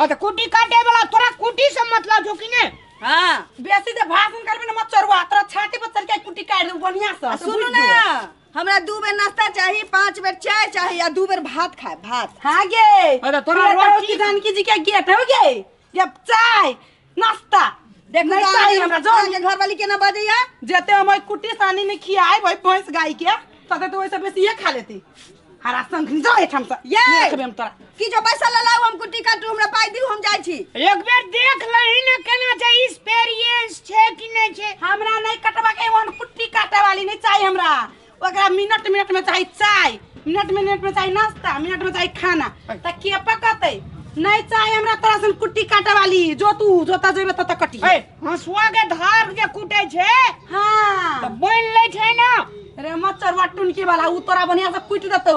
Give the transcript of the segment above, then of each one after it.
आ त कुटी काटे वाला तोरा कुटी से मतलब छौ कि ने हां बेसी जे भाषण करबे न मत चरुआ तोरा छाती पर चढ़ के कुटी काट दे बढ़िया से सुनू ना हमरा दू बेर नाश्ता चाही पांच बेर चाय चाही आ दू बेर भात खाए भात हां गे अरे तोरा रोटी किसान की जी के गेट हो गे जब चाय नाश्ता देख नहीं तो सारी हमरा जो के घर वाली के ना बजैया जेते हम ओइ कुटी सानी में खियाए भाई भैंस गाय के तते तो वैसे बेसी ये खा लेती हरा संग जो है हम सब ये! नहीं रखबे हम तोरा कि जो पैसा ले लाओ हम कुटी काटू हमरा पाई दी हम जाई छी एक बेर देख लही ना केना छै एक्सपीरियंस छै कि नहि छै हमरा नहीं कटवा के वन कुट्टी काटे वाली नहीं चाहिए हमरा ओकरा मिनट मिनट में चाही चाय मिनट मिनट में चाही नाश्ता मिनट में चाही खाना त के पकते नहीं चाहे हमरा तोरा सन कुट्टी काटे वाली जो तू जो त जेबे त त कटी ए हंसुआ के धार जे कूटे छै त हां बोल लै छै ना रे मच्छर वाटुन के वाला उ तोरा बढ़िया से कुट देतौ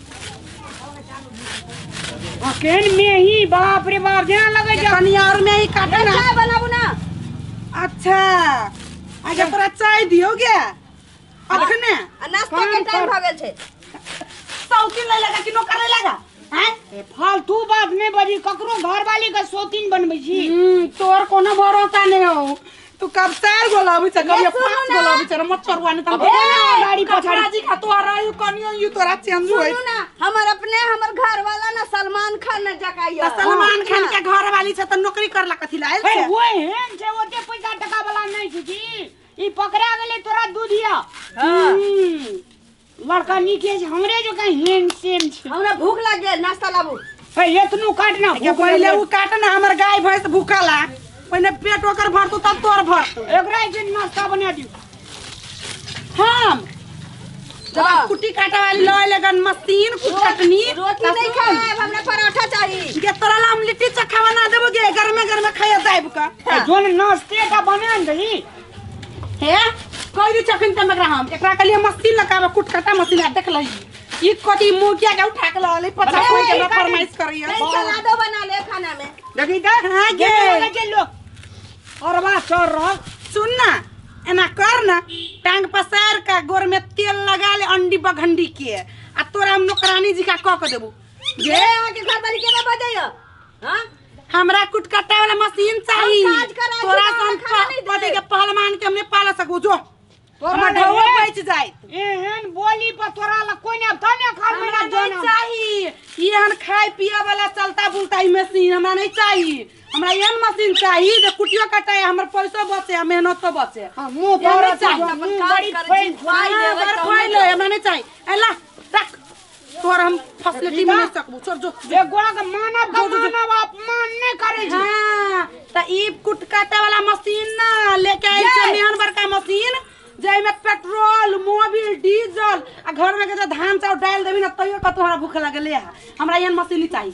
अकेन में ही बाप रे बाप जेना लगे जे कनियार में ही काटे ना चाय बनाबू ना अच्छा अच्छा तोरा चाय दियो गे अखने आ नाश्ता के काम टाइम कर। भ गेल छै सौती ले लगा कि नौकर ले लगा हैं ए, फालतू बात में बजी ककरो घर वाली के सोतीन बनबै छी हम्म, तोर कोनो भरोसा नहीं हो तू कब चार गो लाबी छ कब ये सुनू पांच गो ना। लाबी छ मत छोड़वा ने तम अब बोला ना गाड़ी पछाड़ी कपड़ा जी का तोरा यू कनियो यू तोरा चेंज होई सुनू ना हमर अपने हमर घर वाला ना सलमान खान न जकाइया त सलमान खान के घर वाली छ त नौकरी करला कथि लायल ए, छै वो एहन छै ओते पैसा टका वाला नहीं छै जी ई पकड़ा गेलै तोरा दूधिया हम्म। लड़का नीक अछि हमरे जकाँ हेम सेम छै हमरा भूख लग गेल नाश्ता लाबू हे एतनो काट ना के पहिले उ काट ना हमर गाय भैंस भूखल है पहिले पेट ओकर भरतो तब तोर भरतो एकरा जे नाश्ता बना दियो हम जब कुटी काटे वाली लय लगन मशीन कुछ चटनी रोटी नहीं खाए हमरा पराठा चाहिए के तोरा ला हम लिट्टी चखा बना देबो गे गरमे गरमे खाए जाइब का जोन नाश्ते का बना दही हे कहि दे चखन तम एकरा हम एकरा के लिए मशीन लगाबे कुटकटा मशीन आ देख लही ई कथी मोटिया के उठा के लले पता कोई के ना फरमाइश करैया नहीं चला दो बना ले खाना में देखी का हां गे लगा जे लो और बा चोर रह सुन ना एना कर ना टांग पसार का गोर में तेल लगा ले अंडी बघंडी के आ तोरा हम नौकरानी जी का कह के देबू गे आके घर वाली के ना बजाइयो हां हमरा कुटकटा वाला मशीन चाहिए हम काज कराई, तोरा हमरा सन खाना नहीं दे। पति के पहलवान के हमने पाला सकू जो तोरा हमर ढौआ लगे- बच जाए एहन बोली पर तोरा लग कोई ने धने खाल में हमरा ना नहीं जनम चाहिए ई हन खाए पिए वाला चलता बुलता ई मशीन हमरा नहीं चाहिए हमरा एहन मशीन चाहिए जे कुटियो कटाए हमर पैसो बचे आ मेहनतो बचे हां मुंह हमरा तोरा चाहिए, चाहिए अपन मुंह काज बड़ी कर, फैल जिन फैल। हाँ, बड़ फैल है, हमरा नहीं चाहिए एला तोर हम फैसिलिटी में नहीं सकबू छोड़ जो ए गोड़ा के मानव का मानव अपमान नहीं करे छी हाँ, त ई कुट काटे वाला मशीन ना लेके आइल छै मेहन बड़का मशीन जाहि में पेट्रोल मोबिल डीजल आ घर में के जे धान चाउर डाल देबी ना तैयो कतौ हमरा भूख लगले है हमरा एहन मशीन नहीं चाहिए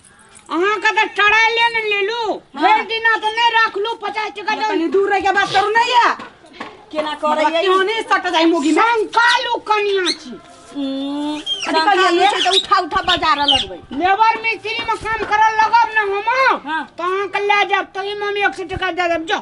अहाँ के तऽ टरा ले ने लेलू भरि दिना तऽ नहि रखलू पचास टका दे कनी दूर रह के बात करू नहीं है केना करे मतलब क्यों नहीं सट जाए मुगी में संकालू कनिया छी कथी कहलियै ये? छै तऽ उठा उठा बाजार लगबै लेबर मिस्त्री में काम करल लगब ने हम हाँ। तऽ अहाँके लए जायब तही में हम एक सौ टका दे देब जाओ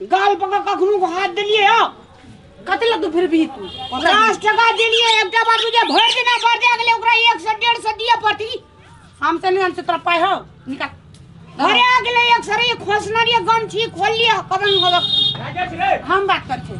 गाल पका कखनो को हाथ देलिए हो कते लग तू फिर भी तू पचास टका देलिए एकटा बार तुझे भर देना पड़ जाए अगले ओकरा एक सौ डेढ़ सौ दिए पड़ती हम तो नहीं हम तो तोरा पाए हो निकाल घरे आ गेले एक सरी खोसना रे गम छी खोल लिया कदम हो हम बात कर छी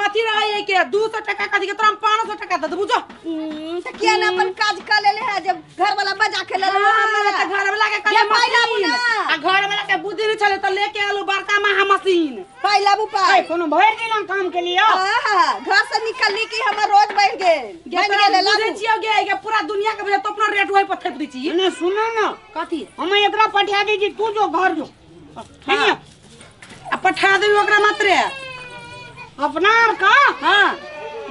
मथी रहे है के 200 टका का दिखे तोरा हम 500 टका दे देबू जो हम्म, तो किया ना अपन काज कर लेले है जब घर वाला बजा के लेले हाँ, हमरा हमरा त घर वाला के कले ये पहिला मशीन बुना। आ घर वाला के बुद्धि नहीं छले त लेके आलो बड़का महा मशीन पहला बु ए पाई कोनो भर दिन हम काम के लिए आहा, घर से निकलने की हमर रोज बढ़ गेल बढ़ गेल बुझे लालू छियो गे के पूरा दुनिया के बजे तो अपना रेट वही पर थेप दी छी ना सुनो ना कथी हम एकरा पठा दीजिए तू जो घर जो आ पठा देबी ओकरा मात्रे अपना आर का हाँ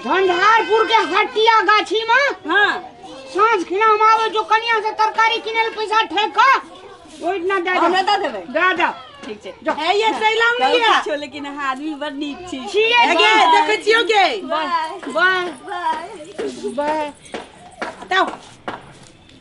झंझारपुर के हटिया गाछी में हाँ साँझ खिना हम आवे जो कनिया से तरकारी किने ले पैसा ठेक का ओइ ना दे हमरा दे दे देबै दे दे ठीक छै जो है ये सैलाम सब लिया किछो लेकिन अहाँ आदमी बड़ नीक छी छियै है गे देखै छियो गे बाय बाय बाय बताओ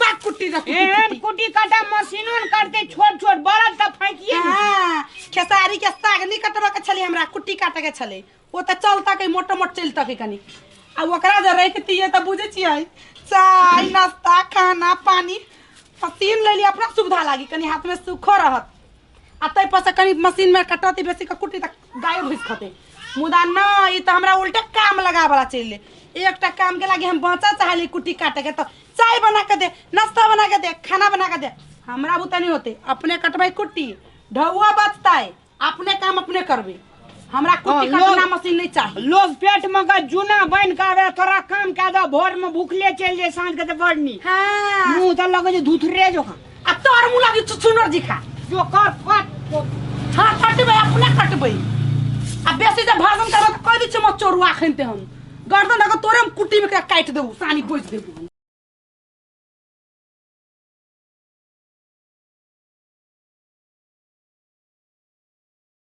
बा कुट्टी रख एहन कुटी काटा मशीनो न करते छोट छोट बड़द त फैकिए ने। हाँ, खेसारी के साग नहीं कटबा के छले हमरा कुट्टी काटे के छले वो तो चलता के मोटो मोट चलता के कनी आ ओकरा जे रख तिए तो बुझे छियै चाय नाश्ता खाना पानी पसीन ले ली अपना सुविधा लागी कनी हाथ में सुखो रहत आ ताहि पर से कनि मशीन में कटौती बेसी के कुटी तक गाय भूस खते मुदा न ई तो हमरा उल्टे काम लगा वाला चले एकटा काम के लागे हम बचा चाहली कुटी काटे के तो चाय बना के दे नाश्ता बना के दे खाना बना के दे हमरा बुते नहीं होते अपने कटबै कुट्टी ढौआ बचतै अपने काम अपने करबे हमरा कुट्टी हाँ, लोग- कटना मशीन नहीं चाहिए लोग पेट में का जूना बन के आवे तोरा काम के दे भोर में भूखले चल जाए साँझ के तो बढ़नी हाँ मुंह तो लगे जे धुथरे जो खा आ तोर मुँह लगी छुछुनर जी खा जो कर कट हाँ कटबै अपने कटबै आ बेसी जे भरदन करबै तऽ कहि दै छियै मत चोरुआ एखन ते हम गर्दन अगर तोरे हम कुट्टीमे एकरा काटि देबू सानी बोझि देबू हम